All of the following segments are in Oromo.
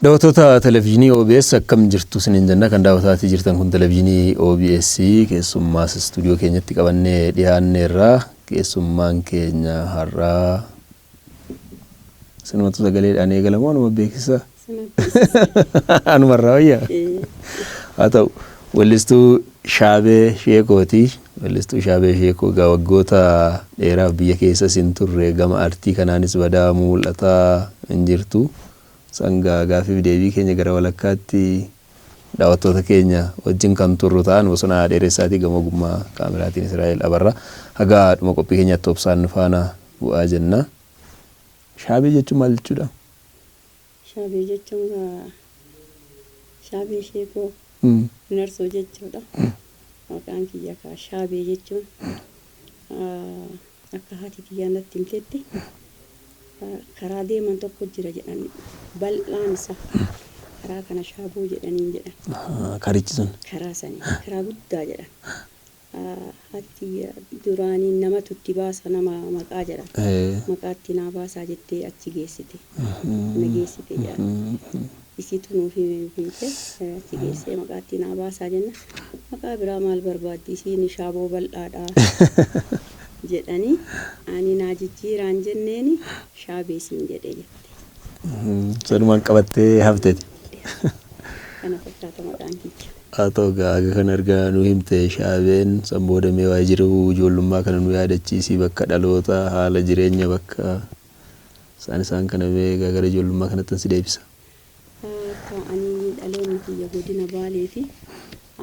Daawwattoota televezyiinii OBS akkam jirtu isiniin jenna kan daawwataatii jirtan kun televezyiinii OBS keessummaas istuudiyoo keenyatti qabannee dhiyaanneerra keessummaan keenya har'aa Sinumatu sagaleedhaan eegala moo anuma beeksisa? Anuma irraa wayya? Haa ta'u. Wellistuu Shaabee Sheekooti. Wellistuu Shaabee Sheekoo egaa waggoota dheeraaf biyya keessas hin turre gama artii kanaanis badaa mul'ataa hin jirtu. Sangaa gaaffiif deebii keenya gara walakkaatti Daawattoota keenya wajjin kan turru ta'a. Nu bosona haa dheeressaatii gama ogummaa kaameraatiin Israa'el Abarraa. Haga dhuma qophii keenyaatti obsaan nu faana bu'aa jenna. Shaabee jechuun maal jechuudha? Shaabee jechuun gaa Shaabee Sheekoo Narsoo jechuudha. Maqaan kiyya kaa Shaabee jechuun. Akka haati tiyyaa natti himtetti karaa deeman tokko jira jedhan bal'aan isa karaa kana shaaboo jedhaniin jedhan. Karichi sun. Karaa sani karaa guddaa jedhan. Haati tiyya duraanii namatu itti baasa nama maqaa jedhan. Maqaa itti naa baasaa jettee achi geessite. Na geessite jedhan. isiitu nuu hime bilbilte si geessee maqaa ittiin haa baasaa jenna maqaa biraa maal barbaaddi isiin shaaboo bal'aadha jedhanii ani naa jijjiiraan jenneeni shaabee siin jedhe jette Sanumaan qabattee hafteti. kana fakkaata maqaan kiyya. Haa ta'u egaa aga kana erga nu himte shaabeen san booda mee waa'ee jiruu ijoollummaa kana nu yaadachiisi bakka dhaloota haala jireenya bakka Isaan isaan kana mee gara ijoollummaa kanattan si deebisa. Akka ani dhaloonni kiyya godina Baalee fi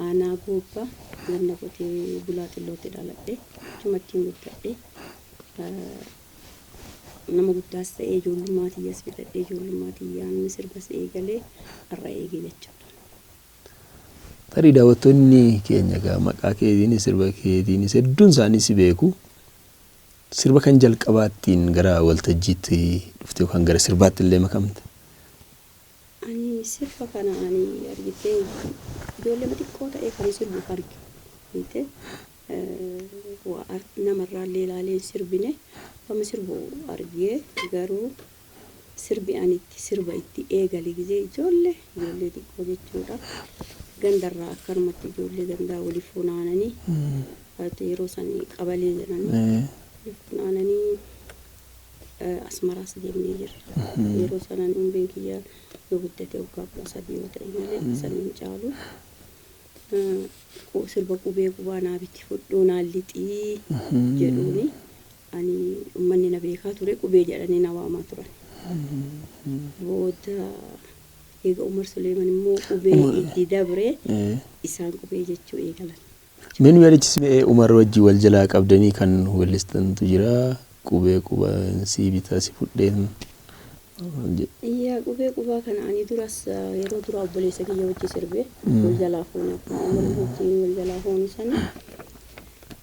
aanaa Goobba ganda qotee bulaa xillootti dhaladhe. Achumattiin guddadhe. Nama guddaas ta'ee ijoollummaa tiyyas fixadhee ijoollummaa tiyyaan sirbas eegalee har'a eege jechuudha. Tarii daawwattoonni keenya egaa maqaa keetiinis sirba keetiinis hedduun isaanii si beeku. Sirba kan jalqabaa ittiin gara waltajjiitti dhufte yookaan gara sirbaatti illee makamte? Ani sirba kana ani argittee ijoolleema xiqqoo ta'ee kan sirbu arge. Beektee? Waa namarraa illee ilaalee hin sirbine. Akkuma sirbu argee garuu. Sirbi ani itti sirba itti eegale gizee ijoolle ijoollee xiqqoo jechuudha. Gandarraa akkanumatti ijoollee gandaa wali funaananii ati yeroo san qabalee jedhanii Ee. wali funaananii eh, asmaraas deemnee jirra. Yeroo sana ani umriin kiyya yoo guddate waggaa kudha sadii yoo ta'e malee sana hin caalu. Eh, qu- Sirba qubee qubaa naa biti fudhuu naa lixii jedhuuni Ani ummanni na beekaa ture, Qubee jedhanii na waamaa turan. Booda eega Umar Suleeman immoo Qubee Umar. itti dabre, Eh. isaan Qubee jechuu eegalan. Mee nu yaadachiisi mee Umar wajji wal jalaa qabdanii kan weellistantu jira. Qubee qubaan sii bitaa si fudheen. waan jedhu. Yaa Qubee qubaa kana ani duras ah, yeroo duraa obboleessa kiyya wajji sirbe, wal jalaa fuune akkuma Umar wajjiin wal jalaa fuunu sani.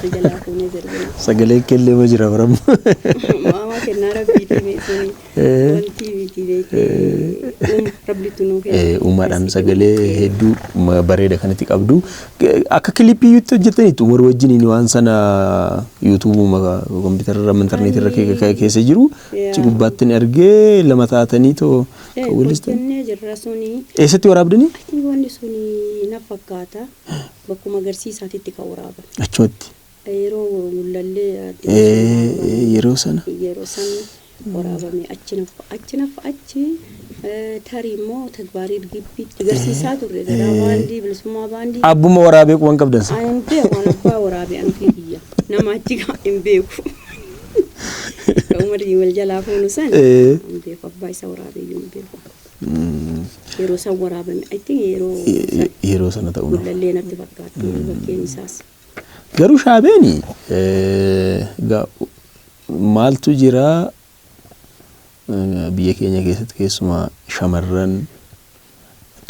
Sijalaa fuunee zarbina. Sagaleen kellee ma jira baram. Maamaa kennaa rabbiitii meesuni. Wantii miti beekee. Uuma rabbiitu nuu kenna. Eh, Umaadhaan sagalee hedduu ma- bareeda kanatti qabdu. Ge- Akka kilipii yuutti hojjetaniitu umar wajjiniin waan sana yuutuubuma kompiitararra intarneetirra ke- ke- keessa jiru Yaa. achi gubbaatti ni argee lama taatanii too Eh, kan walistan. hojjennee jirra suni. Eessatti waraabdanii? Ati wanni suni na fakkaata. Bakkuma agarsiisaatitti kan waraabame. Achumatti. Yeroo mul'allee adde Ee, Maseenaa ee, yeroo sana. waraabame. Yeroo san waraabame. Achi naffa achi naffa achi eh, tarii immoo tagbaariid gibbiitti garsiisaa turre. Gadaa baandii, bilisummaa baandii. Abbuma waraabee quban qabdan san. Ani hin beeku waan abbaa waraabee an ofii kiyya. Nama achi gaa hin beeku. Kan umarrii wal jalaa fuunu san Ee. hin beeku. Abbaa isa waraabee iyyuu hin beeku. Yeroo isaan waraabame I think yeroo san Yeroo sana ta'uu mala. gullallee natti fakkaatti yeroo bakkeen isaas. Garuu shaabeeni eh, ga- maaltu jira eh, biyya keenya keessatti keessumaa shamarran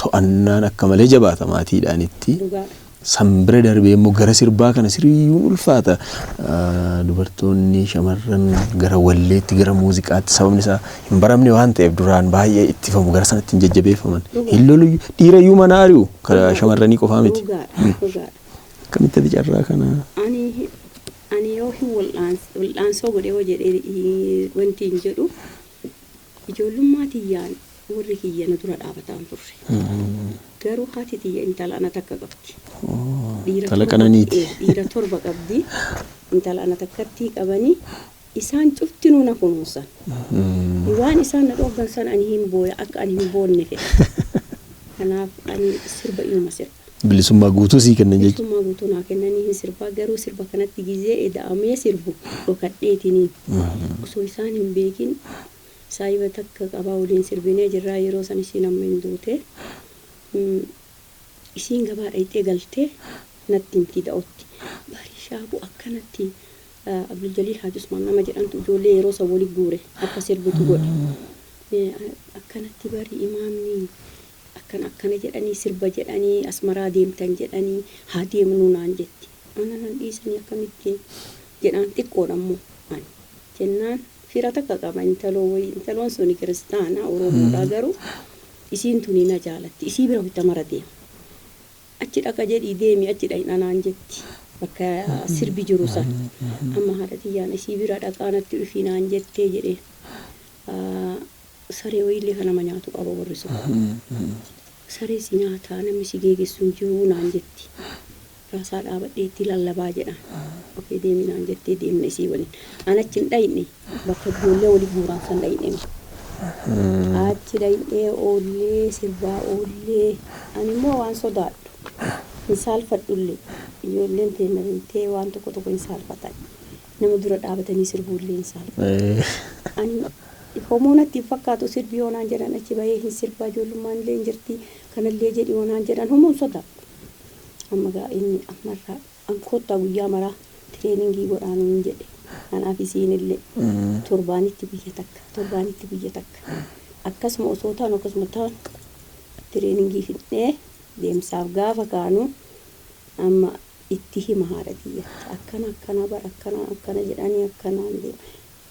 to'annaan akka malee jabaata maatiidhaanitti. Dhugaadha. San bira darbee immoo gara sirbaa kana siriyuun ulfaata. Dubartoonni, shamarran gara walleetti, gara muuziqaatti sababni isaa hin baramne waan ta'eef duraan baay'ee ittifamu gara sanatti hin jajjabeeffaman. Hin loluyyu. Dhiirayyuu manaa ari'u. Karaa shamarranii qofaa miti. Dhugaadha. Dhugaadha. Akkamitti ati carraa kana? Ani ani yoo hin wal'aans wal'aansoo godhee hoo jedhee wanti hin jedhu Ijoollummaa tiyyaan worri kiyya na dura dhaabataan turre. Garuu haati tiyya intala ana takka qabdi. Dhiira Intala torba, qananiiti. ee, dhiira torba qabdi. Intala ana takkattii qabani. Isaan cuftinuu na kunuunsan. Waan isaan na dhooggan san ani hin booya, akka ani hin boonne fedhan. Kanaaf ani sirba inuma sirba. Bilisummaa guutuu sii kennan jechuudha. Bilisummaa guutuu naa kennanii hin sirbaa garuu sirba kanatti gizee eda'amee sirbu dhokadheetiniin osoo isaan hin beekin saahiba takka qabaa waliin sirbinee jirraa yeroo san isiin amma hin duute isiin gabaa dhayxee galtee natti himti da'otti bari shaabu akkanatti Abduljaliil Haaji Usmaan nama jedhantu ijoollee yeroo san wali guure akka sirbitu godhe akkanatti bari imaamni Akkana akkana jedhanii sirba jedhanii Asmaraa deemtan jedhanii haa deemnuu naan jetti. Ana nan dhiisanii akkamitti jedhaan xiqqoodha immoo ani. Jennaan fira takka qaba intaloo wayii intaloon suni kiristaana oromoodha garuu isiin tuni na jaalatti isii bira wayta mara deema achi dhaqa jedhii deemi achi dhayna naan jetti bakka sirbi jiru san amma haadha tiyyaan isii bira dhaqaa natti dhufii naan jettee jedheen. Saree wayii illee ka nama nyaatu qaba warri sun. Saree si nyaataa namni si geegessu hin jiruu naan jetti. Raasaa dhaabadhee itti lallabaa jedhaan. Ok deemi naan jettee deemne isii waliin. An achi hin dhayne bakka ijoollee wali guuraan san dhayne. Achi dhaynee oollee sirbaa oollee ani immoo waan sodaadhu hin saalfadhu illee ijoolleen teenna beeytee waan tokko tokko hin saalfatan. Nama dura dhaabatanii sirbuu illee hin saalfatu. Ani homuu natti hin fakkaatu sirbi yoo naan jedhan achi bahee hin sirba ijoollummaan illee hin jirti kana illee jedhi yoo naan jedhan homuu hin sodaadhu. Amma egaa inni amma irraa an koottaa guyyaa maraa tireeningii godhaa nuun jedhe. Anaaf isiin illee torbaanitti guyya takka torbaanitti guyya takka akkasuma osoo taanu akkasuma taanu tireeningii fixnee deemsaaf gaafa kaanu amma itti hima haadha tiyyatti akkana akkana bar akkana akkana jedhanii akkanaan deema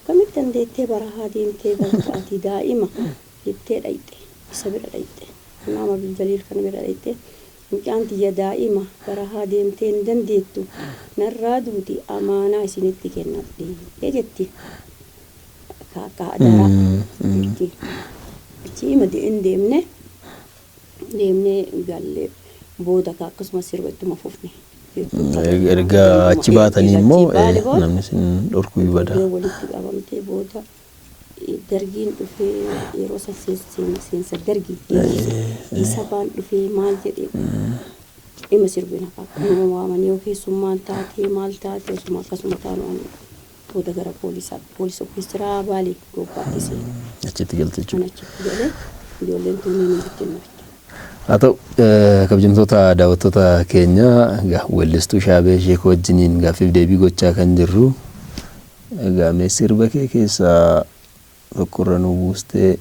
akkamitti dandeettee barahaa deemtee galta ati daa'ima jettee dhayxe isa bira dhayxe imaam abdul jaliil kana bira dhayxe mucaan tiyya daa'ima barahaa deemtee hin dandeettu narraa duuti amaanaa isinitti kennadhe jetti kaakkaa adaraa jetti achi ima hin deemne deemnee galle booda kaa akkasuma sirba ittuma fufne. Erga achi baatanii immoo namni isin dhorkuu ni bada. Ijoolleen walitti qabamtee booda dargiin dhufee yeroo san seensa dargii isa baan dhufee maal jedhee ima sirbina kaa nama waamanii yoo keessummaan taatee maal taatee osuma akkasuma taanu ani Booda gara poolisaatti, poolis office jira Baalee Goobbaatti seene. Achitti galte jechuudha. An achitti gale, ijoolleen tuunniin hin jirtu inni bitti. Haa ta'u, kabjamtoota daawwattoota keenya, egaa weellistuu Shaabee Sheekoo wajjiniin gaaffiif deebii gochaa kan jirru, egaa mee sirba kee keessaa Rakkorra nu buuste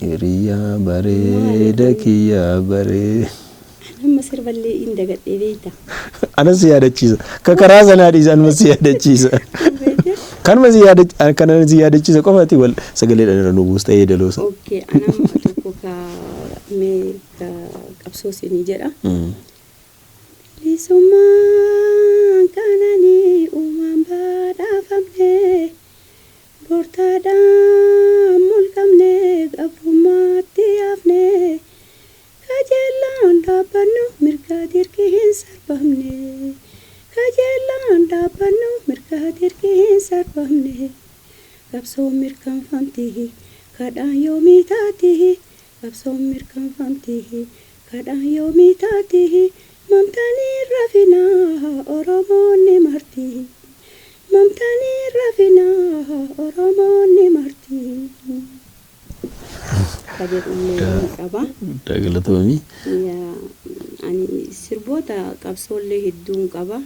hiriyaa bareeda kiyyaa baree. An amma sirballee in dagadhee beeyta. Anas si yaadachiisa. Ka karaa sanaa dhiisa anuma si yaadachiisa. Beeyte? Kanuma si yaadachiisa. Kana si yaadachiisa qofaati wal sagaleedhaan irra nu buusta yeedaloosa. Okkee an amma tokko ka mee ka qabsoo siinii jedha. Bilisummaan kananii uumaan badhaafamne Gooftaadhaan mulqamnee gabrummaatti hafnee kajeellaan dhaabbannu mirga dirqi hin sarbamne kajeellaan dhaabbannu mirga dirqi hin sarbamne qabsoon mirkanfamti kadhaan yoomii taati qabsoon mirkanfamti kadhaan yoomii taati mamtanii hin rafinaa oromoonni marti. Mamtaan hin rafina Oromoonni marti. ka jedhullee ni qaba. Guddaa galatoomi. Yaa ani sirboota qabsoollee hedduun qaba.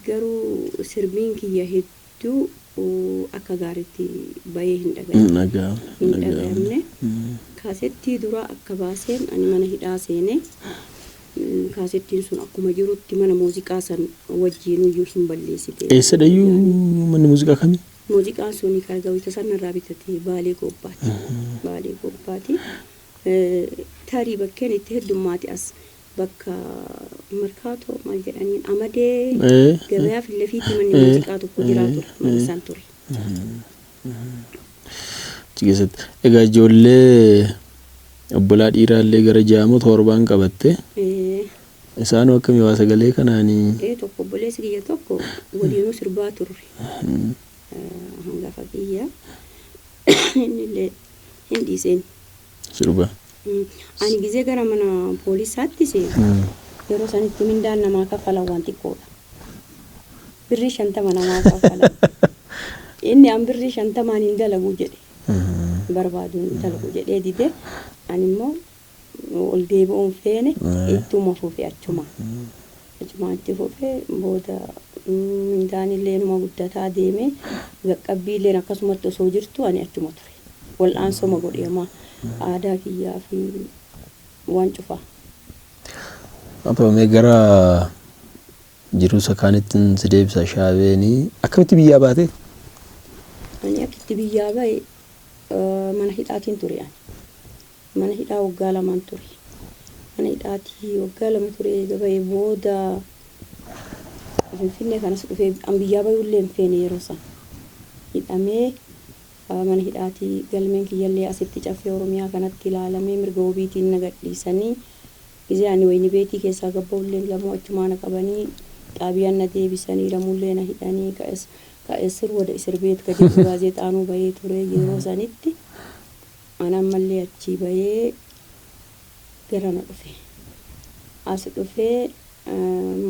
Garuu sirbiin kiyya hedduu akka gaariitti bahee hin dhagahamne. Hin dhagahamne. Hin dhagahamne. Kaasettii duraa akka baaseen ani mana hidhaa seene. Kaasettiin sun akkuma jirutti mana muuziqaa san wajjiinuyyuu hin balleessite. Eessadhayyuu manni muuziqaa kami? Muuziqaan suni ka gawita san narraa bitate Baalee Goobbaati. Baalee Goobbaati. Tarii bakkeen itti heddummaate as bakka Markaatoo maal jedhaniin Amadee gabayaa fillefiitti manni muuziqaa tokko jiraa ture. Mana san ture. Achi keessatti egaa ijoollee obbolaa dhiiraallee gara ja'a moo torbaan qabatte. Ee. Isaanoo akkami waa sagalee kanaani? Ee tokko obboleessi kiyya tokko waliinuu sirbaa turre. Hangafa kiyya innillee hin dhiiseen. Sirba. Ani gizee gara mana poolisaatti seenu yeroo sanitti mindaan namaa kaffalan waan xiqqoodha. birrii shantama namaa kaffala. Inni an birrii shantamaan hin dalagu jedhe. Hin barbaadu hin dalagu jedhee dide. Ani immoo ol deebi'uu hin feene ittuma fufe achuma. Achumaan itti fufe booda mindaan illee inuma guddataa deeme. Qaqqabbii illeen akkasumatti osoo jirtu ani achuma ture. Wal'aansoma godhe amma aadaa kiyyaa fi waan cufaa. Haa ta'u mee gara Jiruu isa kaanittin si deebisa shaabeenii. Akkamitti biyyaa baate? Ani akkitti biyyaa bahe mana hidhaatiin ture ani. Mana hidhaa waggaa lamaan ture. Mana hidhaatii waggaa lama turee eega bahe booda Finfinnee kan as dhufee an biyyaa bahuu illee hin feene yeroo san. Hidhamee mana hidhaatii galmeen kiyya illee asitti Caffee Oromiyaa kanatti ilaalamee mirga wobiitiin na gadhiisanii Gizee ani wayni beetii keessaa gad ba'ulleen lamuu achumaa na qabanii xaabiyaan na deebisanii lamuullee na hidhanii ka es ka esir wada isir beet ka jedhu gaazeexaanuu ba'ee ture yeroo sanitti an ammallee achii ba'ee garana dhufe as dhufee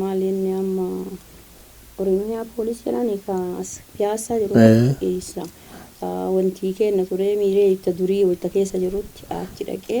maal inni amma Oromiyaa poolis jedhani ka as piyaassaa jiru ee eessa wantii keenna turee miiree itta durii wayta keessa jirutti achi dhaqee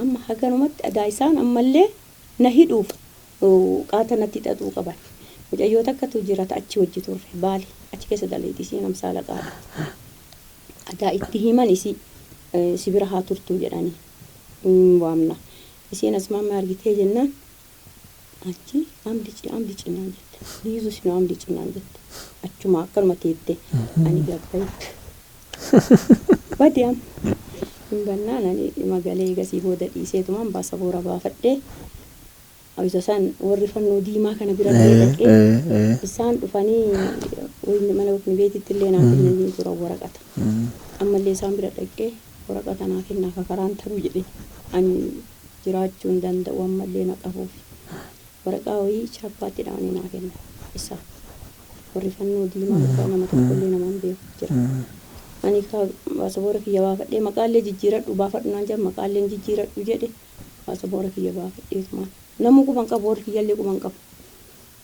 Amma haganumatti adaa isaan ammallee na hidhuuf qaata natti xaxuu qaban. Mucayyoo takkatu jira ta achi wajji turre baale achi keessa dalayti isiin amsaala qaadhatti. Adaa itti himan isii si bira haa turtuu jedhanii hin waamna. Isiin asmaamma argitee jennaan Achi amdi ci amdi ci naan jette. Yesus nu amdi ci naan jette. Achuma akkanuma teette ani gabbaye. Bade amma. Hin bannaan ani dhima galee egasii booda dhiiseetumaan baasaboora baafadhee isa san warri fannoo diimaa kana bira illee dhaqee Ee, ee. isaan dhufanii wayni mana waqni beetitti illee naa kennanii turan waraqata. Ammallee isaan bira dhaqee waraqata naa kennaa kakaraan taruu jedhee ani jiraachuu hin danda'u ammallee na qabuufi. Waraqaa wayii chaappaatti dha'anii naa kennan. Isa. Warri fannoo diimaa irraa nama tokkollee nama hin beeku hin jiran. Ani kaa baasaboora kiyya baafadhee maqaallee jijjiiradhu baafadhu naan jedhan maqaallee hin jijjiiradhu jedhe baasaboora kiyya baafadheetumaan. Namuu quba hin qabu warri kiyyallee quba hin qabu.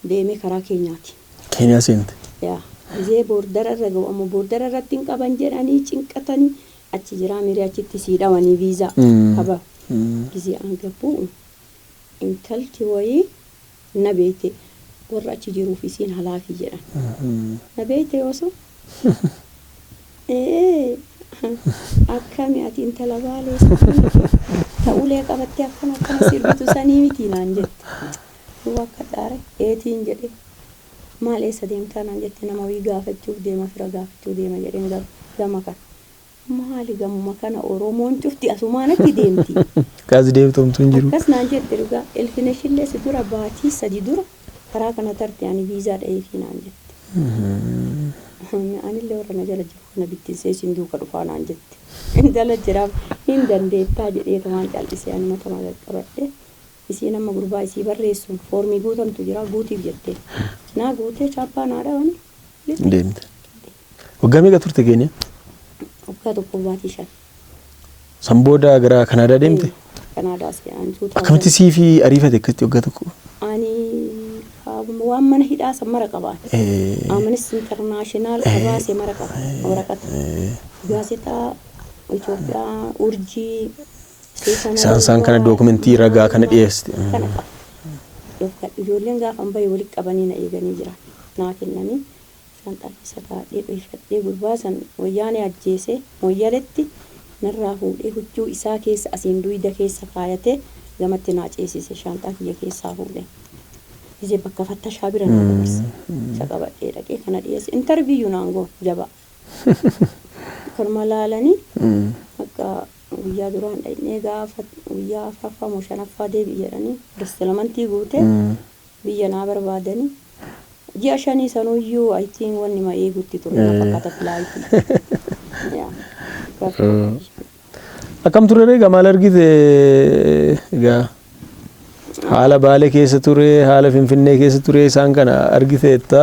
Deemee karaa Keenyaati. Keeniyaa seente. Yaa. Gizee boordara irra ga'u ammoo boordara irratti hin qaban jedhanii cinqatanii Achi jiraa mirii achitti sii dhawanii visa haba gizee an gabbu intalti wayii na beeyte warra achi jiruuf isiin halaafii jedhan na beeyte oso ee akkami ati intala baalee sanii miti ta ulee qabattee akkana akkana sirbitu sanii miti naan jette hin wakkadhaare eetiin jedhee. Maal eessa deemtaa naan jette nama wayii gaafachuuf deema fira gaafachuu deema jedheen garuu gama kana. Maali gamuma kana oromoon cufti asumaan achi deemti. Akkas deemtu homtuu hin jiru. Akkas naan jette dhugaa ilfineshillee si dura baatii sadi dura karaa kana tarte ani viizaa dhaheefii naan jette. Anillee warra na jala jiru kana bittinsee isin duuka dhufaa naan jette. Intala jiraaf hin dandeettaa jedheetumaan cal'ise ani matama qaqqabadhe. Isiin amma gurbaa isii barreessuun foormii guutantu jira guutiif jettee naa guutee chaappaa naa dhawanii lixxe. Deemte. Waggaa meeqa turte Keeniyaa? Waggaa tokkoof baatii shan. San booda gara Kanaadaa deemte? Kanaadaa si aan tuutaa. Akkamitti sii fi ariifate akkasitti waggaa tokko? Ani waan mana hidhaa san mara qabaan. Amanis intarnaashinaal qabaase mara qaba waraqata. Gaazexaa Itoophiyaa urjii. Isaan isaan kana dookumentii ragaa kana dhiyeessi. Kana qaba. Dhoofkadhu. Ijoolleen gaafan bahe walitti qabanii na eeganii jiran. Naa kennanii isaan xarrisa kaa'adhee dhohifadhee gurbaa san wayyaanee ajjeesee Mooyyaletti narraa fuudhee huccuu isaa keessa asiin duyda keessa kaayatee gamatti naa ceesise shaanxaa kiyya keessaa fuudhee gisee bakka fattashaa bira naa dabarse. Isa qabadhee dhaqee kana dhiyeesse. Interviyyu naan goon jabaa. Korma laalani akka guyyaa duraan dhaqnee gaafa guyyaa afraffaa moo shanaffaa deebi'i jedhanii restalamantii guutee biyya naa barbaadani. Ji'a shanii sanuyyuu I think wannima eegutti ture na fakkaata filaayitii. Yaa rakkoo qabi. Akkam ture ree gamaal argite egaa haala baalee keessa ture haala finfinnee keessa ture isaan kana argiteetta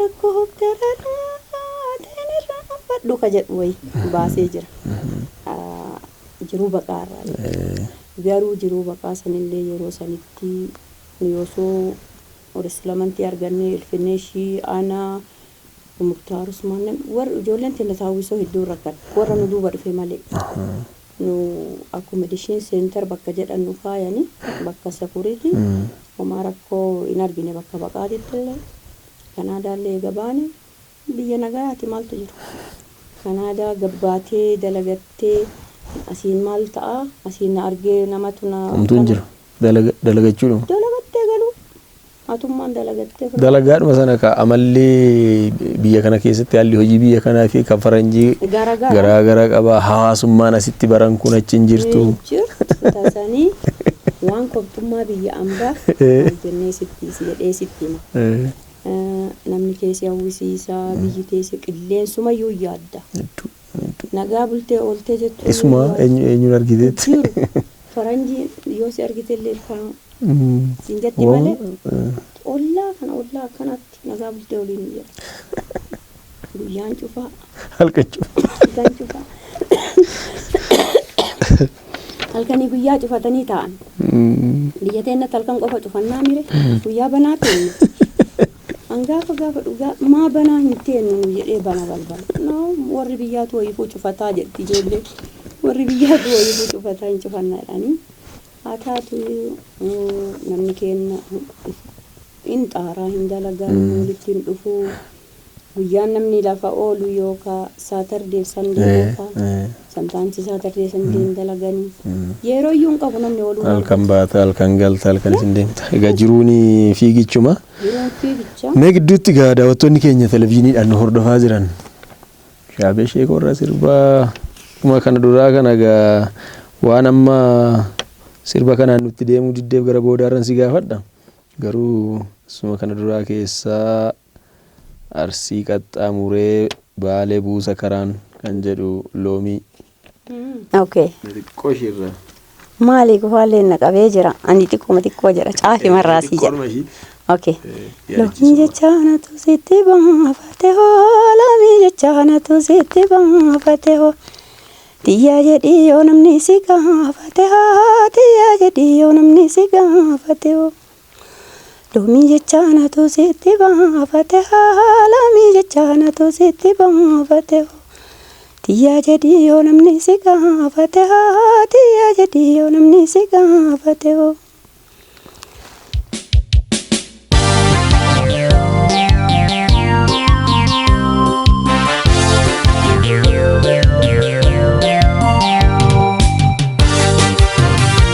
Rakkoo hokkararaa ta'een irraanfadhu ka jedhu wayi baasee jira. Jiruu baqaa irraa jechuudha. Garuu jiruu baqaa sanillee yeroo sanitti nuyi osoo Orisilamantii argannee Ilfinnee ishii ana Muktaar Usmaan namni warri ijoolleen teenna Taawwisoo hedduun rakkanne warra nu duuba dhufe malee. Nu accommodation center bakka jedhan nu kaayani bakka security homaa rakkoo hin argine bakka baqaatitti illee Canada illee eega baane biyya nagayaati maaltu jira Canada gabbaatee dalagattee asiin maal ta'a asiin na argee namatu na Homtuu hin kana jiru. Dalaga dalagachuudhuma. dalagattee galuu Atummaan dalagattee fudhatte. Dalagaadhuma sana kaa amalli biyya kana keessatti haalli hojii biyya kanaa fi kan faranjii Garagara. garaa gara qaba. Hawaasummaan asitti baran kun achi hin jirtu. Hin jirtu tasanii waan kobxummaa biyya ambaa maal jennee sitti si jedhee sitti hima. Eh, Eh, Namni kee si hawwisiisa, biyyi kee si qilleensumayyuu yaadda. hedduu. Nagaa bultee ooltee jechuun Isuma yoo as eenyu eenyuun argiteetti. jiru faranjiin yoo si argite illee ilkaan siin jetti Woo, malee eh, ollaa kana ollaa akkanatti nagaa bultee oliin hin jedhan. Guyyaan cufaa, halkan cufa. halkan cufaa. Halkanii guyyaa cufatanii taa'an. Mm. Biyya teennatti halkan qofa cufannaa mire guyyaa banaa keenya. An gaafa gaafadhu ga, maa banaa hin teennu nu jedhee bana balbala. No warri biyyaatu wayiifuu cufataa jedhti ijoollee. Warri biyyaatu wayiifuu cufataa hin cufanna jedhanii. Haa taatu namni keenna hin xaaraa hin dalagaa namni walitti hin dhufuu. Guyyaan namni lafa oolu yookaa saatardeef sandee Eh, qofaa. eh. sometimes Saturday Sunday hin dalagani. Yeroo iyyuu hin qabu namni ooluu halkan baata halkan galta halkan isin deemta egaa jiruun fiigichuma Jiruun fiigicha. mee gidduutti egaa daawwattoonni keenya televizyiiniidhaan nu hordofaa jiran shaabee sheekoo irraa sirbaa dhuma kana duraa kana egaa waan amma sirba kanaan nutti deemuu diddeef gara boodaarran si gaafadha garuu suma kana duraa keessaa Arsii qaxxaamuree Baalee buusa karaan kan jedhu loomii. Okay. Na xiqqoo ishii irra. Maali gufaalleen na qabee jira. Ani xiqquma xiqqoo jedha. Caafi marraasii jedha. Xiqqoodhuma ishii. Okay. Eh, Loomii yaadachiisuma. jecha anatu sitti baafate hoo loomii jecha anatu sitti baafate hoo tiyyaa jedhii yoo namni si gaafate hoo tiyyaa jedhii yoo namni si gaafate hoo. Loomii jecha anatu sitti baafate haa Loomii jecha anatu sitti baafate hoo Tiyyaa jedhii yoo namni si gaafate haa Tiyyaa jedhii yoo namni si gaafate hoo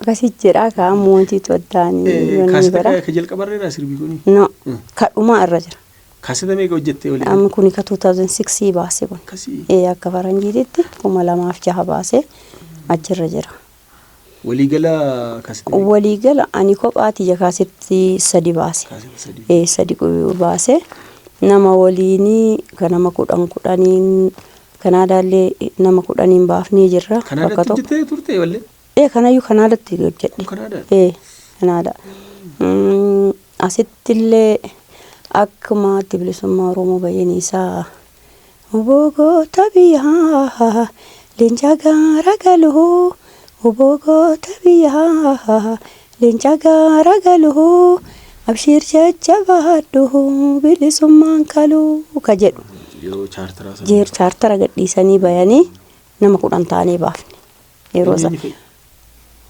Akkasitti jedhaa kaa mootiitu addaan yoon ni Kaaseta bara. ka- ka jalqabarra irraa sirbi kuni. No, Mm. ka dhumaa irra jira. Kaaseta meeqa hojjettee olii? Amma kuni ka 2006 baase kun. Akkasii. Ee, akka faranjiititti kuma lamaaf jaha baase achirra jira. Walii gala ka sirrii. Walii gala ani kophaa tiyya kaasetti sadi baase. Kaaseta sadii. Ee sadi qu- baase. Nama waliini ka nama kudhan kudhaniin Kanaadaallee nama kudhaniin baafnee jirra. Bakka Kanaadatti tokko. hojjettee turte wallee? Ee kanayyuu Kanaadatti Kun hojjedhe. Kanaadaadha. Ee Kanaadaa. Mm, Asittillee akkuma addi bilisummaa Oromoo bayyaniisaa Wbo goota biyyaa leenca gaara galu Wbo goota biyyaa leenca gaara galu Abshiir jajjabaadhu bilisummaan kalu ka jedhu Yeroo chaartaraa sana. Jeer chaartara gadhiisanii bayanii nama kudhan taanee baafne. Yeroo sa-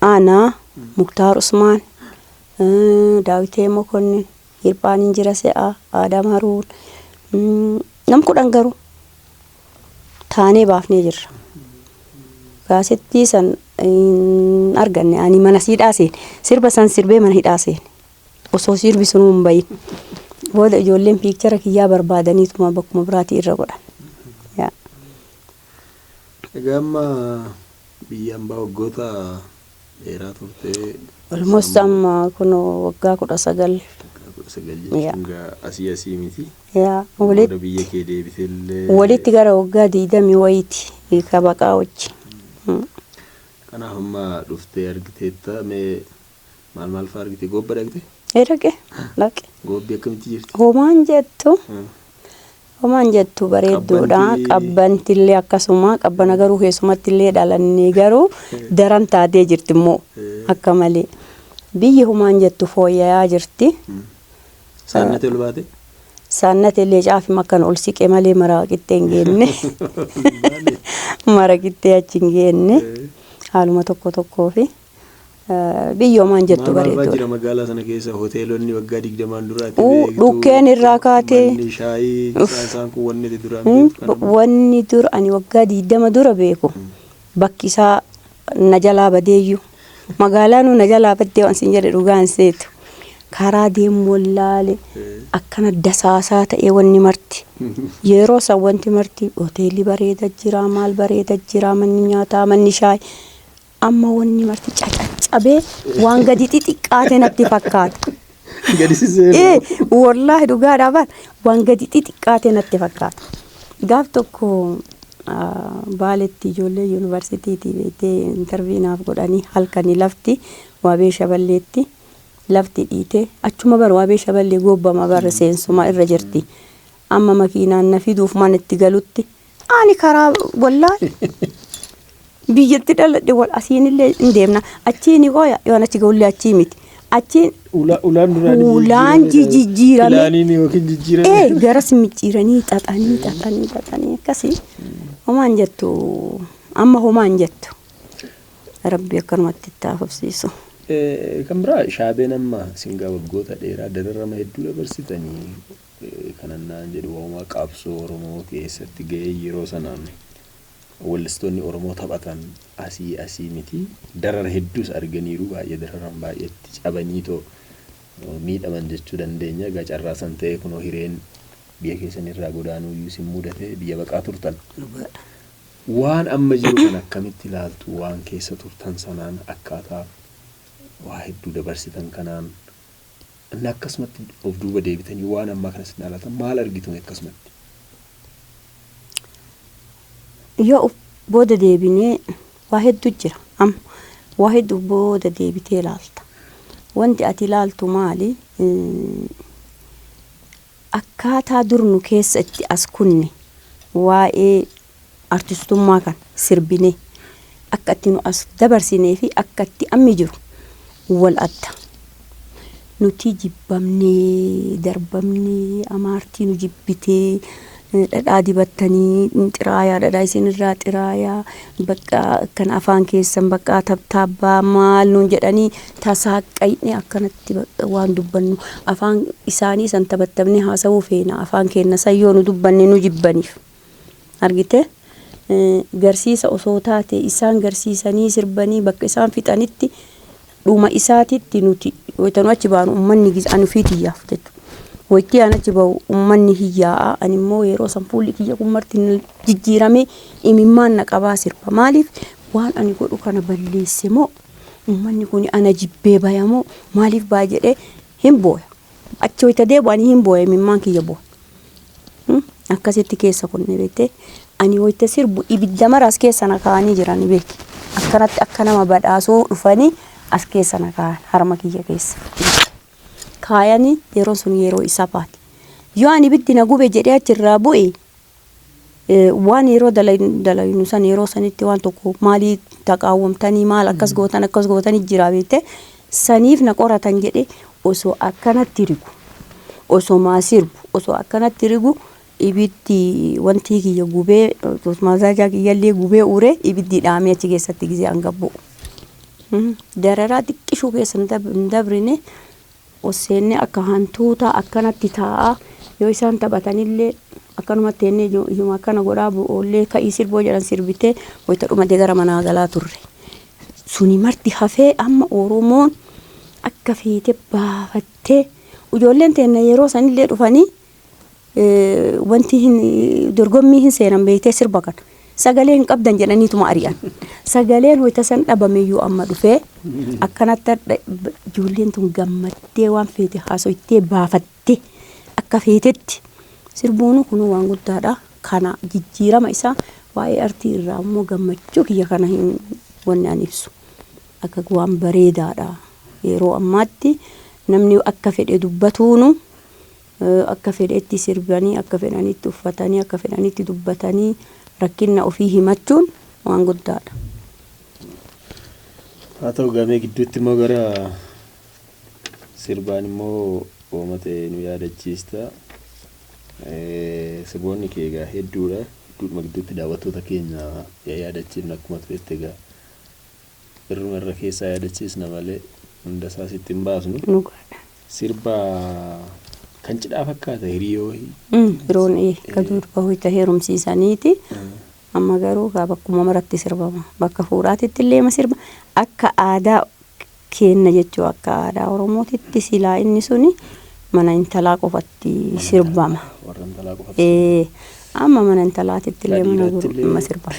Aanaa, Muktaar Usmaan, eh, Daawitee Mokonnin, Hirphaan Injira Se'aa, Aadam Haruun, mm, nam kudhan garuu taanee baafnee jirra. Kaasettii san hin arganne ani mana siidhaa seene. Sirba san sirbee mana hidhaa seene. Osoo sirbi sunuu hin bahin. Booda ijoolleen piikchara kiyyaa barbaadaniituma bakkuma biraatii irra godhan. Yaa. Egaa amma biyya ambaa waggoota dheeraa turtee Almost sammuu amma kunoo waggaa kudha sagal. waggaa kudha sagal Yaa. jechuun gaa asii asii miti. Yaa. Amma Walitti booda biyya kee deebitee illee walitti gara waggaa digdamii wayiiti ka baqaa wajji. Mm. kanaaf amma dhuftee argiteetta mee Maal maal fa'aa argite? Goobba dhaqxe? Ee dhaqe dhaqe. Goobbi akkamitti jirti? Homaan jettu Hmm. homaan jettu bareedduudha. Qabbanti- Qabbanti illee akkasuma qabbana garuu keessumatti illee dhalannee garuu daran taatee jirti immoo Eh. akka malee. Biyyi homaan jettu fooyya'aa jirti. Saannati ol baate? Saannati illee caafima akkan ol siqe malee maraa qixxee hin geenne. Mara qixxee achi hin geenne. Eh. Haaluma tokko tokkoo fi. biyyoo maan jettu Maal maal fa'aa bareedduu. jira magaalaa sana keessa hoteelonni waggaa digdamaan dura ati Uu beektu dhukkeen irraa kaatee manni shaayii isaan uff isaan kun wanni ati duraan mm, beektu b- kana wanni dura ani waggaa digdama dura beeku bakki isaa na jalaa badeeyyu magaalaanuu na jalaa baddee waan siin jedhe dhugaan seetu karaa deemu wallaale Eh. akkana dasaasaa ta'ee wanni marti yeroo san wanti marti hoteelli bareeda jira maal bareeda jira manni nyaataa manni shaayii Amma wanni marti cacaccabee waan gadi xixiqqaate natti fakkaata. Gadisisee. Ee, wallaahi dhugaadhaa bar waan gadi xixiqqaate natti fakkaata. Gaaf tokko ah, baaletti ijoollee yuunivarsiitiitii beektee intarvii naaf godhanii halkanii lafti waabee shaballeetti lafti dhiitee achuma bar waabee shaballee gobbama bar seensuma irra jirti. Amma makiinaan na fiduuf mana itti galutti Ani karaa wallaal biyyatti dhaladhe wal asiin illee hin deemna. Achiin koo yoon achi ga'ullee achii miti. Achiin Ula- Ulaan duraan Ulaan jijjiirame. Ilaaniin yookiin jijjiirame. ee gara simicciiranii xaxanii xaxanii xaxanii akkasii homaan jettu amma homaan jettu. Rabbi akkanumatti itti haa fufsiisu. Eh, Kan biraa shaabeen amma singaa waggoota dheeraa dararama hedduu dabarsitanii Kanan naan jedhu waa'uma qabsoo Oromoo keessatti ga'ee yeroo sana weellistoonni Oromoo taphatan asii asii miti. Darara hedduus arganiiru. Baay'ee dararan, baay'ee itti cabaniitoo miidhaman jechuu dandeenya. Egaa carraa san ta'ee kunoo hireen biyya keessanii irraa godaanuuyyuu isin mudate. Biyya baqaa turtan. Dhugaadha. Waan amma jiru kana akkamitti ilaaltu? Waan keessa turtan sanaan akkaataa waa hedduu dabarsitan kanaan. Inni akkasumatti of duuba deebitanii waan ammaa kana isin ilaaltan maal argitu mee akkasumatti? Yoo of booda deebinee waa hedduu jira. Amma waa hedduu of booda deebitee ilaalta. Wanti ati ilaaltu maali? Eh, Akkaataa dur nu keessa itti as kunne waa'ee artistummaa kana sirbinee akka itti nu as dabarsinee fi akka itti ammi jiru wal adda. Nuti jibbamnee darbamnee amaartii nu jibbitee dhadhaa dibattanii xiraayaa dhadhaa isin irraa xiraayaa bakka akkana afaan keessan bakka tabtaabbaa maal nuun jedhanii tasaaqqayne akkanatti bakka waan dubbannu afaan isaanii san tabattabnee haasawuu feena afaan keenna san yoo nu dubbanne nu jibbaniif. Argitee? Garsiisa osoo taatee, isaan garsiisanii, sirbanii, bakka isaan fixanitti, dhuma isaatitti nuti, wayita nu achi baanu, ummanni gis, ani ufiiti iyyaaf jechu. Wayittii an achi ba'u, ummanni hiyyaa'a, ani immoo yeroo san fuulli kiyya kun marti na jijjiiramee, imimmaan na qabaa sirba. Maaliif? Waan ani godhu kana balleesse moo, ummanni kuni ana jibbee baya moo, maaliif baya jedhee hin booya. Achi wayita deebi'u ani hin boo'e imimmaan kiyya bu'a. Hmm, Akkasitti keessa kunne beektee ani wayita sirbu ibidda mara as keessa na kaa'anii jiran beeki. Akkanatti akka nama badhaasuu dhufanii as keessa na kaa'an harma kiyya keessa. Kaayanii yeroon sun yeroo isabaati. Yoo ani ibiddi na gube jedhee achirraa bu'e waan yeroo dalaynu san yeroo sanitti waan tokko maalii taqaawwamtanii maal akkas gootan akkas gootanii jira beekte saniif na qoratan jedhe osoo akkanatti rigu osoo maa sirbu osoo akkanatti rigu ibiddi wantii kiyya gubee mazaajaa kiyyallee gubee uree ibiddi dhaamee achi keessatti gisee an gabbu'u. Dararaa xiqqishuu keessa hin dabrine ol seennee akka hantuutaa akkanatti taa'aa yoo isaan taphatanillee akkanumatti teennee iju- ijuma akkana godhaa bu- oollee ka'ii sirboo jedhan sirbitee wayita dhumate gara manaa galaa turre. Suni marti hafee amma Oromoon akka feete baafattee ijoolleen teenna yeroo sanillee dhufanii wanti hin dorgommii hin seenan beektee sirba kana. Sagalee hin qabdan jedhaniituma ari'an. Sagaleen hoyta san dhabameyyuu amma dhufee akkanatti hadha- b- ijoolleen tun gammattee waan feete haasoytee baafattee akka feetetti sirbuunu kunuu waan guddaadha. Kana jijjiirama isaa waa'ee artii irraa immoo gammachuu kiyya kana hin wanni an ibsu. Akka waan bareedaadha. Yeroo ammaatti namni akka fedhe dubbatuunu akka fedhetti sirbanii, akka fedhanitti uffatanii, akka fedhanitti dubbatanii rakkinna ofii himachuun waan guddaadha. Haa ta'u egaa mee gidduutti immoo gara sirbaan immoo hooma ta'e nu yaadachiista. Sirboonni kee egaa hedduudha. Gidduudhuma gidduutti daawwattoota keenya yaa yaadachiifna akkuma turetti egaa. Irruma irra keessaa yaadachiisna malee hunda isaa sitti hin baasnu. Dhugaadha. Sirba kan cidhaa fakkaata hiriyoo wayii. Mm, Yeroon ee, ka durba hoyta heerumsiisaniiti. Amma garuu kaa bakkuma maratti sirbama. Bakka fuudhaatitti illee ma sirba. Akka aadaa keenna jechuu akka aadaa Oromootitti silaa inni suni mana intalaa qofatti sirbama. Warra intalaa qofatti. Ee, amma mana intalaatitti Ka illee mana dhiiraatti gurba illee. ma sirbama.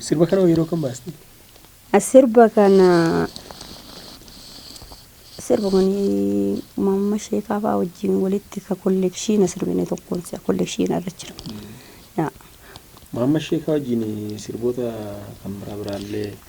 Sirba kana yeroo kan baaste. Sirba kana sirba kun mamma sheekaa fa'aa wajjin walitti ka kollekshiina sirbine tokkoon isaa kollekshiina irra jira. Yaa. Maamma sheekaa wajjin sirboota kan biraa biraallee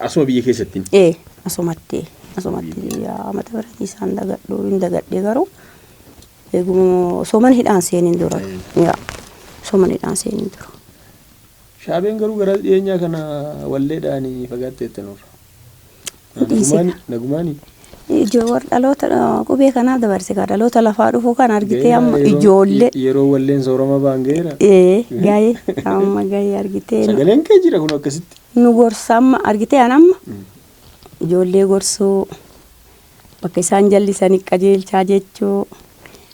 Asuma biyya keessatti. Ee asumatti asumatti amata biratii isaan dagadhu hin dagadhe garuu eeguma osoo mana hidhaan seeniin dura. Yaa osoo mana hidhaan seeniin dura. Shaabeen garuu garas dhiyeenyaa kana walleedhaan fagaatteetta nurra. Nagumaani nagumaani. Ijoo war dhaloota ah, qubee kanaa dabarse kaa dhaloota lafaa dhufu kan argitee amma Gaheera yeroo- ijoollee. Yeroo walleen soorama ba'an gaheera. Ee gahee amma gahee argitee nu- Sagaleen kee jira kun akkasitti. nu gorsa amma argitee an amma ijoollee gorsuu Bakka isaan jallisani qajeelchaa jechuu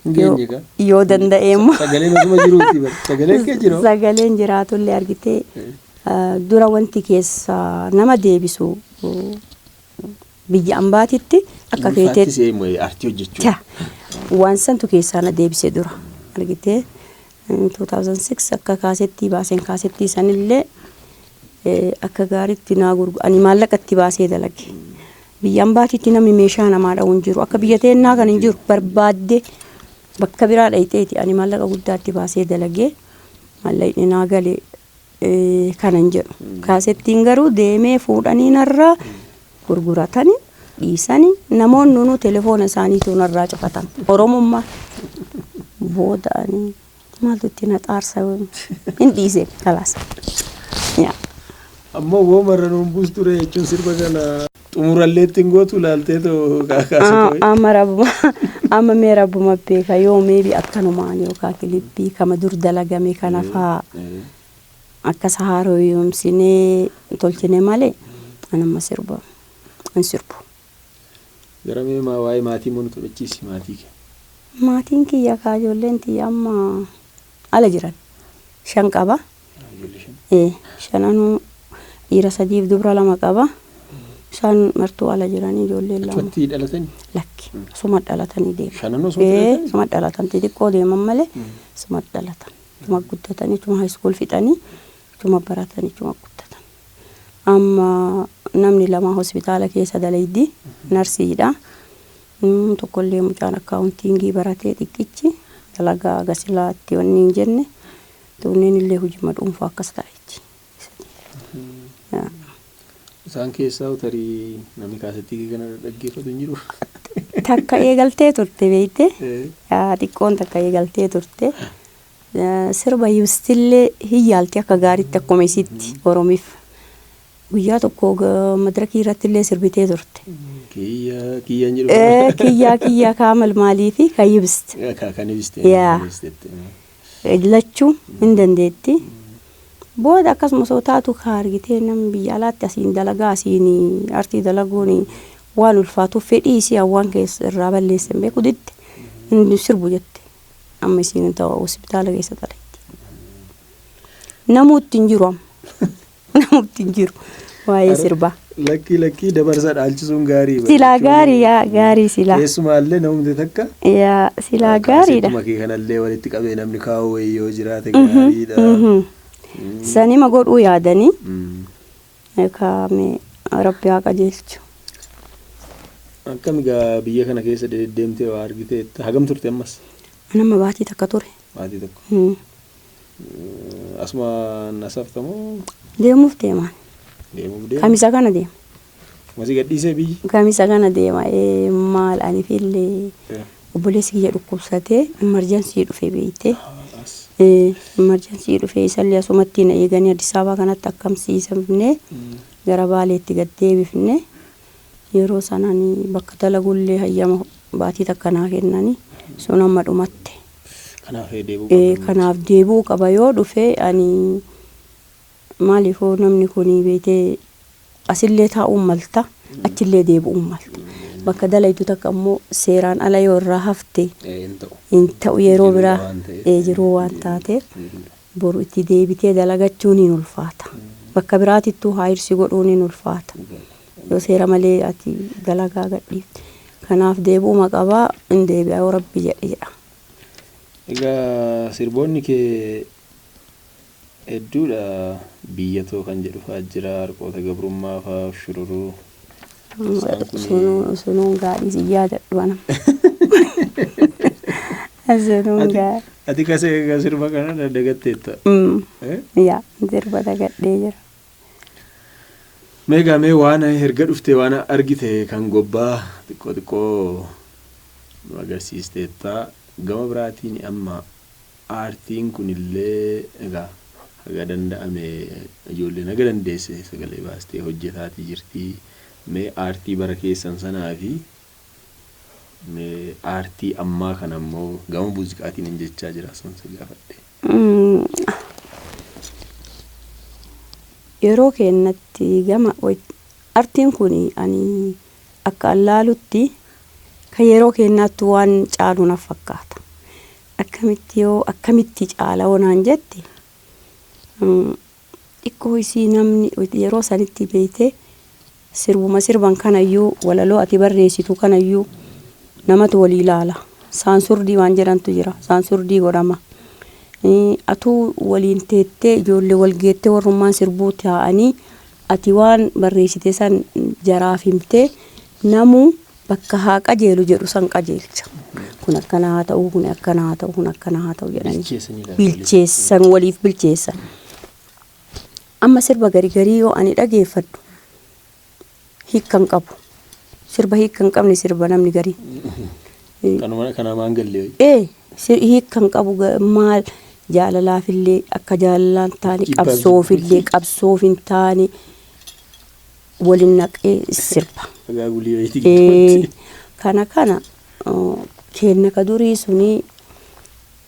Hin yoo geenye gaa. yoo danda'e immoo Sagalee masuma jiruuti bar. Sagalee kee jiroo. sagaleen jiraatullee argitee ah, dura wanti keessa nama deebisu uh, biyya ambaatitti akka Ulfaatti keeteetti se'ee moo'ee artii hojjechuu. ta waan santu keessaa na deebise dura argitee 2006 akka kaasettii baaseen kaasettii sanillee akka gaariitti naa gurgu ani maallaqa itti baasee dalage biyya ambaatiitti namni meeshaa namaa dha'u hin jiru akka biyya teennaa kan hin jiru barbaadde bakka biraa dhayxeeti ani maallaqa guddaatti baasee dalagee maallaqni naa galee kanan jedhu. Kaasettiin garuu deemee fuudhanii narraa gurguratani dhiisani namoonni nuu telefoona isaaniituu narraa cufatan. Oromummaa booda ani maaltu itti na xaarsa hin dhiise kalaas. Ammoo woo marra nuun buus ture jechuun sirba kana. Xumurallee ittiin gootu laaltee too kaasa too. Amma rabuma amma mee rabuma beeka yoo meebi akkanumaan yookaan kilipii kama dur dalagame kana faa akkas haarooyumsinee tolchine malee an amma sirba hin sirbu. Gara mee maa waa'ee maatii immoo nu taphachiisi maatii kee. Maatiin kiyya kaa ijoolleen tiyya amma ala jiran shan qaba. Ee shananuu dhiira sadiif dubra lama qaba. Isaan martuu ala jiranii ijoolleen lama. Achumatti dhalatanii? Lakki asuma dhalatanii deeman. Shananuu asumatti Ee dhalatanii? asuma dhalatan xixiqqoo deeman malee asuma dhalatan. Achuma guddatanii achuma high school fixanii achuma baratanii achuma guddatan. Amma namni lama hospitaala keessa dalaydi narsiidha. Mm, Tokkollee mucaan akkaawuntiingii baratee xiqqichi dalagaa gasilaatti wanni hin jenne Tunneen illee hujima dhuunfaa akkas ta'a jetti. Isaan keessaa tarii namni kaasettii kana dhaggeeffatu hin jiru. Takka eegaltee turte beekte. Xiqqoon takka eegaltee turte. Sirba ibstillee hin yaalti akka gaariitti akkuma isitti Oromiif. Guyyaa tokko madirakii irratti illee sirbitee turte. Kiyyaa kiyyaan jedhu. Kiyyaa kiyyaa kaamal maalii fi kan ibst. Kan ibst. Yaa. lachuu hin dandeetti. Booda akkasuma osoo taatu kaa argitee namni biyya alaatti asiin dalagaa asiin artii dalaguun waan ulfaatuuf fedhii isii hawwaan keessa irraa balleesse hin beeku didde hin sirbu jette. Amma isiin ta'u hospitaala keessa xalayitti. Namuu itti hin jiru amma. Namatti hin jiru waa'ee sirbaa. Lakkii lakkii dabarsa dhaalchisuun gaarii. Silaa gaarii yaa gaarii silaa. Keessumaallee namni takka. Yaa silaa gaariidha. Kaaseetuma kee kanallee walitti qabee namni kaa'u wayii yoo jiraate gaariidha. Sanima godhuu yaadanii. Kaame rabbi haa qajeelchu. Akkami gaa biyya kana keessa deddeemtee waa argiteetta hagam turte ammas? Anamma baatii takka ture. Baatii tokko. Asumaan as hafta moo? Deemuuf deemaan. Deemuuf deema. Kamisa kana deema. Masii gadhiisee biyyi. Kamisa kana deema. Ee maal ani fillee Eh, obboleessi kiyya dhukkubsatee imarjansii dhufee beeyte. as. Ee imarjansii dhufee isallee asumatti na eeganii Addis Ababaa kanatti akkamsiisamne Mm. gara Baaleetti gad deebifne. Yeroo san ani bakka dalagullee hayyama baatii takka naa kennani. Sun amma dhumatte. Kanaaf ee deebi'uu qabda. Kanaaf deebi'uu qaba. Yoo dhufe ani maaliif hoo namni kun beeytee asillee taa'uun malta, achillee deebi'uun malta. Bakka dalaydu takka ammoo seeraan ala yoo irraa hafte hin ta'u. Yeroo biraa jiruu waan taateef Boru itti deebitee dalagachuun hin ulfaata. Bakka biraatittuu haayirsi godhuun hin ulfaata. Yoo seera malee ati dalagaa gadhiifte. Kanaaf deebi'uma qaba, hin deebi'a yoo Rabbi jedhe jedha. Egaa sirboonni kee hedduudha. Biyya too kan jedhu fa'aa jira, harqoota gabrummaa fa'aa, ushururuu. Isaan kun- Sunuu sunuun gaadhii si yaadadhu anam. Sunuun Ati- gaa. Ati kasa egaa sirba kana dagatteetta. Mm. Eh? Yaa sirba dagadhee jira. Meegaa mee waan erga dhuftee waan argite kan gobbaa xiqqoo xiqqoo nu agarsiisteetta. Gama biraatiin amma Aartiin kunillee egaa haga danda'ame ijoolleen haga dandeesse sagalee baastee hojjetaatii jirti. Mee aartii bara keessan sanaafi mee aartii ammaa kana immoo gama muuziqaatiinin jechaa jira san si gaafadhe. Yeroo keennatti gama artiin kun ani akka an laalutti kan yeroo keennaattuu waan caalu naf fakkaata. Akkamitti yoo akkamitti caala hoo naan jette xiqqoo isii namni yeroo sanitti beeytee sirbuma sirban kanayyuu walaloo ati barreessitu kanayyuu namatu walii ilaala saansurdii waan jedhantu jira saansurdii godhama atuu waliin teettee ijoollee wal geettee warrummaan sirbuu taa'anii ati waan barreessite san jaraaf himtee namuu bakka haa qajeelu jedhu san qajeelcha. Kun akkana haa ta'u, kun akkana haa ta'u, kun akkana haa ta'u jedhanii Bilcheessanii laata waliif? bilcheessan waliif bilcheessan. Amma sirba gari garii yoo ani dhageeffadhu hiikka hin qabu. Sirba hiikka hin qabne sirba namni garii. Kanuma kana maan gallee wayi. Ee sir- hiikka hin qabu ga- maal jaalalaafillee akka jaalalaan taane Jibbaa qabsoofillee qabsoof hin taane Waliin naqee sirba. Dhagaa gulii wayitii Ee, gidduutti. kana kana uh, keenna ka durii suni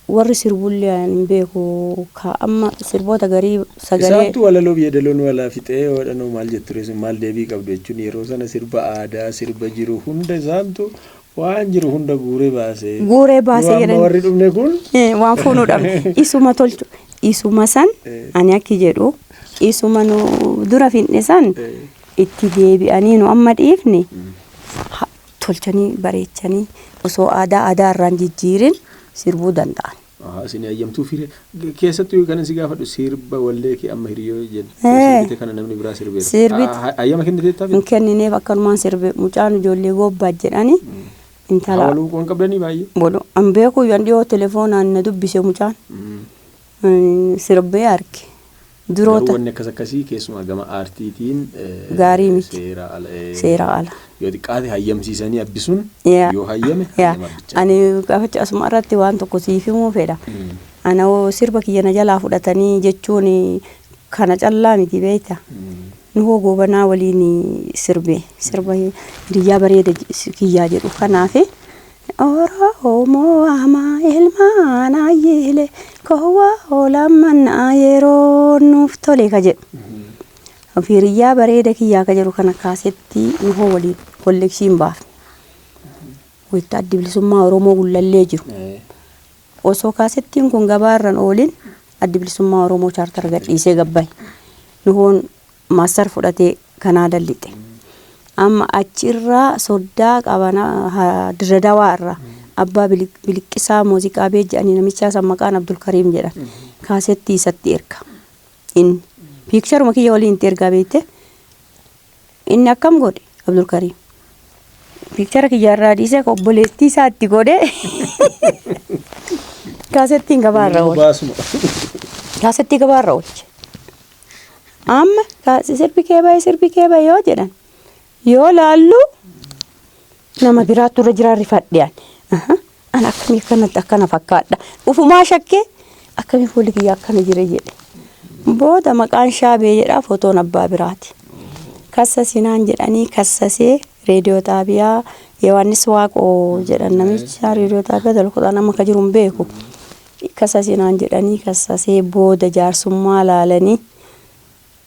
warri sirbullee ani hin beeku ka amma sirboota garii sagalee Isaattuu walaloo biyya daloo nu alaa fixee waadhanoo maal jetture sun maal deebii qabdu jechuun yeroo sana sirba aadaa sirba jiru hunda isaantu Waan jiru hunda guuree baase. Guuree baase Yoo amma jedhan. warri dhumne kun. Eh, waan fuunuu dhabne isuma tolchu isuma san ani akki jedhu isuma nu dura finne san itti deebi'anii nu amma dhiifne ha- tolchanii bareechanii osoo aadaa aadaa irraan jijjiirin sirbuu danda'an. Haa isin hayyamtuu fire keessattuu kanan si gaafadhu sirba wallee kee amma hiriyoo jedhu Ee. sirbite kana namni biraa sirbeera. Sirbit- Ah, ha- Hayyama kenniteettaa hin kennineef akkanumaan sirbe mucaan ijoollee goobbaat jedhani intala Hawaluu waan qabdanii baay'ee. bolo an beekuu yan dhiyoo telefoonaan na dubbise mucaan Mm. Mm, sirbee arge Garuu Duroota. wanni akkas akkasii keessumaa gama aartiitiin eh, Gaarii miti. seera ala eh, Seera ala. yoo xiqqaate hayyamsiisanii abbisuun Yaa. yoo hayyame Yaa. hayyama abbichaa. Ani gafacha asuma irratti waan tokko siif himuu fedha. Mm. Ana hoo sirba kiyya na jalaa fudhatanii jechuun kana callaa miti beekta. Mm. Nu hoo goobanaa waliin sirbe sirba hiriyyaa bareeda je- kiyyaa jedhu kanaafi Oroomoo amaa ilmaan ayyiilee koo waa'oo lammannaa yeroon nuuf tolee ka jedhu. Firiyyaa bareeda kiyyaa ka jedhu kana kaasettii nuhoo waliin kollekshiin baafne. Wayita addi bilisummaa Oromoo gullallee jiru. Osoo kaasettiin kun gabaarran oolin addi bilisummaa Oromoo chaartara gadhiisee gabbaye. Nuhoon Master fudhatee Canada lixe. Amma achi irraa soddaa qabana ha- Dirre Dawaa irraa abbaa Bili- biliqqisaa muuziqaa bee jedhanii namichaa san maqaan Abdulkariim jedhan. Kaasettii isatti erga. Inni piikcharuma kiyya waliin itti ergaa beekte. Inni akkam godhe Abdulkariim. Piikchara kiyya irraa dhiisee ka obboleettii isaa itti godhe kaasettiin gabaa irra Nama oole. baasuma. Kaasettii gabaa irra oolche. Amma kaasi sirbi kee baye sirbi kee baye yoo jedhan yoo laallu nama biraattu irra jiraa rifadhe ani. Aha, An akkamii akkanatti akkana fakkaadha. Ufumaa shakkee akkamii fuulli kiyya akkana jire jedhe. Booda maqaan shaabee jedhaa fotoon abbaa biraati. Kassasi naan jedhanii kassasee reediyoo xaabiyaa Yohaannis Waaqoo jedhan namicha reediyoo xaabiyaa dalkuudhaan amma akka jiru hin beeku. Hin kasasi naan jedhanii kassasee booda jaarsummaa laalanii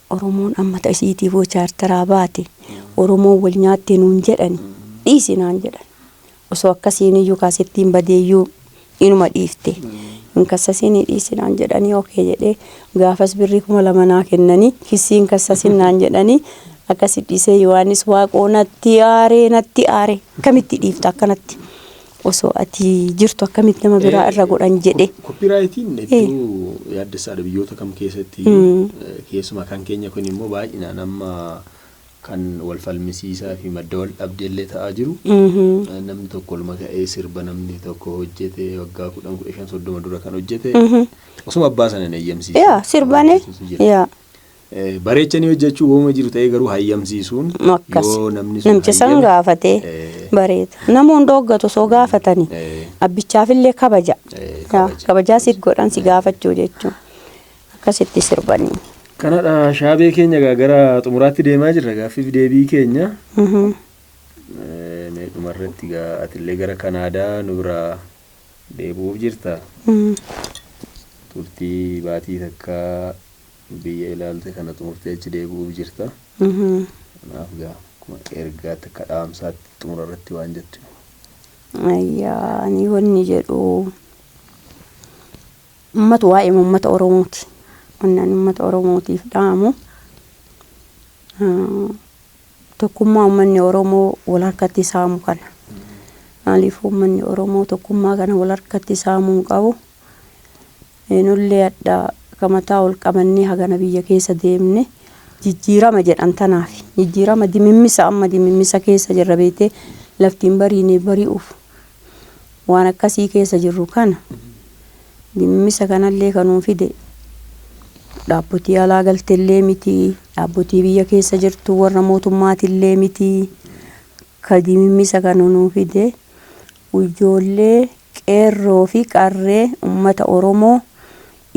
Oromoon amma ta isiitiif hoo chaartaraa baate Oromoon wal nyaatte nuun jedhani dhiisi naan jedhan. Osoo akkasiiniyyuu kaasettiin badeeyyuu inuma dhiifte. Hin kassasiinii dhiisi naan jedhanii ok jedhee gaafas birrii 2000 naa kennanii kissii hin kassasin naan jedhanii akkasi dhiisee Yohaannis Waaqoo natti aaree natti aaree akkamitti dhiifta akkanatti Osoo ati jirtu akkamitti nama biraa irra godhan jedhe. Koppiraayitiin hedduu yaaddessaadha biyyoota kam keessatti keessumaa kan keenya kun immoo baay'inaan amma kan wal falmisiisaa fi madda wal dhabdee illee ta'aa jiru. Namni tokko olma ka'ee sirba namni tokko hojjete waggaa kudhan kudha shan soddoma dura kan hojjete osuma abbaa sana hin eeyyamsiisu. Yaa sirbane yaa Eh, Bareechanii hojjechuu wooma jiru ta'ee garuu hayyamsiisuun Akkas. yoo namni sun Namtichi san hayyame, gaafatee eh, bareeda. Namoonni dhooggatu osoo gaafatanii eh, abbichaafillee kabaja. Eh, Yaa, kabaja. Kabajaa siif godhan si gaafachuu jechuun akkasitti sirbanii. Kanadha shaabee keenya egaa gara xumuraatti deemaa jirra gaaffiif deebii keenya. Mhm. Eh, Mee dhumarratti egaa atillee gara Kanaadaa nu biraa deebi'uuf jirta. Mhm. Turtii baatii takka Biyya ilaalte kana xumurtee achi deebi'uuf jirta. Kanaaf gaa akkuma ergaatti akka dhaamsaatti xumura irratti waan jettu yoo. Ayyaa ani wanni jedhu ummata waa'ee ummata Oromooti. Wanni ani ummata Oromootiif dhaamu ah, tokkummaa ummanni Oromoo wal harkatti saamu kana. Maaliif ummanni Oromoo tokkummaa kana wal harkatti saamuu hin qabu. Nullee adha ka mataa ol qabannee hagana biyya keessa deemne jijjiirama jedhan tanaaf. Jijjiirama dimimmisa amma dimimmisa keessa jirra beektee lafti hin bariine bari'uuf waan akkasii keessa jirru kana dimimmisa kanallee ka nuu fide dhaabbotii alaa galtellee miti, dhaabbotii biyya keessa jirtu warra mootummaatillee miti ka dimimmisa kana nuu fide Ijoollee Qeerroo fi Qarree Ummata Oromoo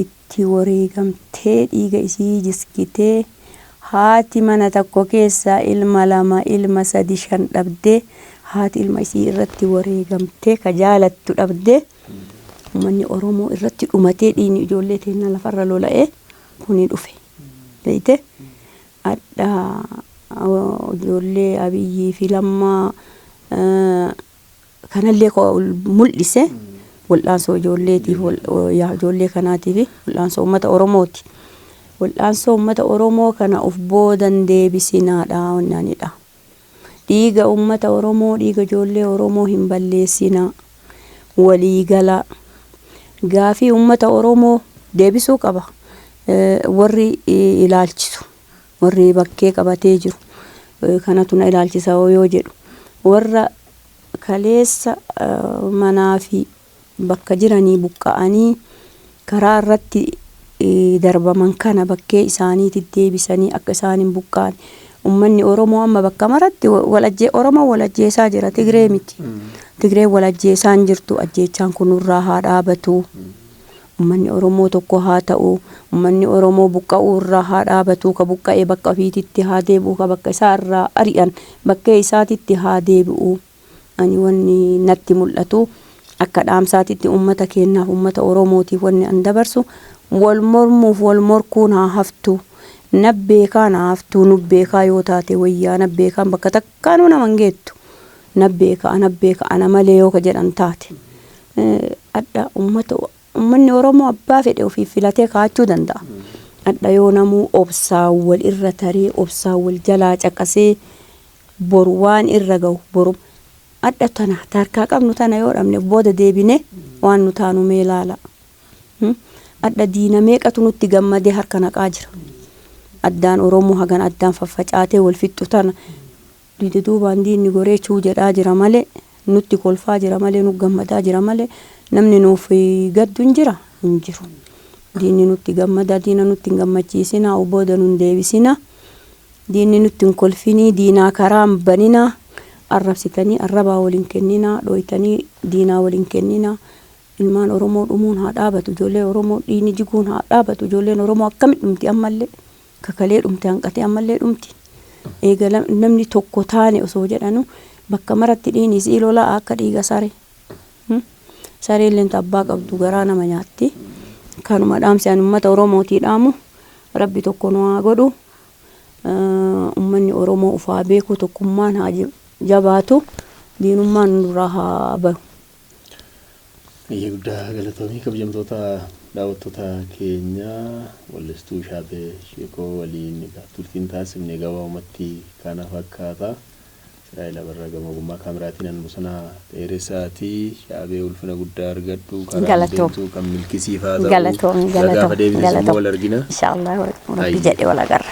itti wareegamtee dhiiga isii jisgitee haati mana takko keessaa ilma lama ilma sadi shan dhabdee haati ilma isii irratti wareegamtee ka jaalattu dhabdee ummanni Oromoo irratti dhumatee dhiigni ijoollee teennaa lafarra lola'ee kuni dhufe beeyte adha ijoollee Abiyyii fi Lammaa kanallee ka ol mul'ise wal'aansoo ijoolleetiif, wal- yaa ijoollee kanaatiif wal'aansoo uummata Oromooti. Wal'aansoo uummata Oromoo kana of booda hin deebisinaadha wanni ani jedha. Dhiiga uummata Oromoo, dhiiga ijoollee Oromoo hin balleessinaa. Walii galaa. Gaafii uummata Oromoo deebisuu qaba eh, warri eh, ilaalchisu. warri bakkee qabatee jiru kanatu na ilaalchisa hoo yoo jedhu warra kaleessa manaa fi bakka jiranii buqqa'anii karaa irratti darbaman kana bakkee isaaniitti deebisanii akka isaan hin buqqaane ummanni Oromoo amma bakka maratti walajjee Oromoo walajjeesaa jira Tigree miti Tigree walajjeesaan jirtu ajjeechaan kunurraa haa dhaabatu Ummanni Oromoo tokko haa ta'u, ummanni Oromoo buqqa'uu irraa haa dhaabatu, ka buqqa'e bakka ufiititti haa deebi'u, ka bakka isaa irraa ari'an bakkee isaatitti haa deebi'u. Ani wanni natti mul'atu, akka dhaamsaatitti ummata keennaaf, ummata Oromootiif wanni an dabarsu, wol mormuuf wol morkuun haa haftu. Nabbeekaan haa haftu, nubbeekaa yoo taate woyyaa, nabbeekaan bakka takka. Kaanuu nama hin geettu. Nan beeka, anan beeka, ana malee yoo ka jedhan taate. Adha ummata, ummanni Oromoo abbaa fedhe ofiif filatee kaa'achuu danda'a. Adha yoo namuu obsaan wal irra taree, obsaan wal jalaa caqasee boru waan irra gahu boruma. Adha tana ta harkaa qabnu tana yoo dhabne booda deebinee waan nu taanu mee laalaa. Adha diina meeqatu nutti gammadee harka naqaa jira. Addaan Oromoo hagana addaan faffacaatee wal fixxu tana duduubaan diinni goree chuu jedhaa jira malee nutti kolfaa jira malee nu gammadaa jira malee namni nuuf gaddu hin jira? Hin jiru. Diinni nutti gammadaa diina nutti hin gammachiisinaa of booda nun deebisinaa. Diinni nutti hin kolfinii diinaa karaa hin baninaa. Arrabsitanii arrabaa wal hin kenninaa dhooytanii diinaa wal hin kenninaa. Ilmaan Oromoo dhumuun haa dhaabatu ijoollee Oromoo dhiigni jiguun haa dhaabatu ijoolleen Oromoo akkami dhumti ammallee ka kalee dhumte hanqatee ammallee dhumti eega namni tokko taane osoo jedhanu bakka maratti dhiini isii lolaa akka dhiiga sare sareen lenta abbaa qabdu garaa nama nyaatti kanuma dhaamsi ani ummata Oromootii dhaamu rabbi tokko nu haa godhu ummanni Oromoo ufaa beekuu tokkummaan haa jabaatu diinummaan nurraa haa bahu. Eeyyee guddaa galatoomi kabjamtoota daawwattoota keenya wallistuu Shaatee Sheekoo waliin egaa turtiin taasifne gabaabumatti kana fakkaata. Israa'el Abarraa gama ogummaa kaameraatiin an Bosanaa Dheeresaati. Shaabee ulfina guddaa argadhu karaan Galatoom. deemtu kan milkisiifaa ta'u. Galatoom, Isa galatoom, gaafa deebites immoo galatoom. wal argina. Inshallah, Rabbi Ayyee. jedhe wal agarra.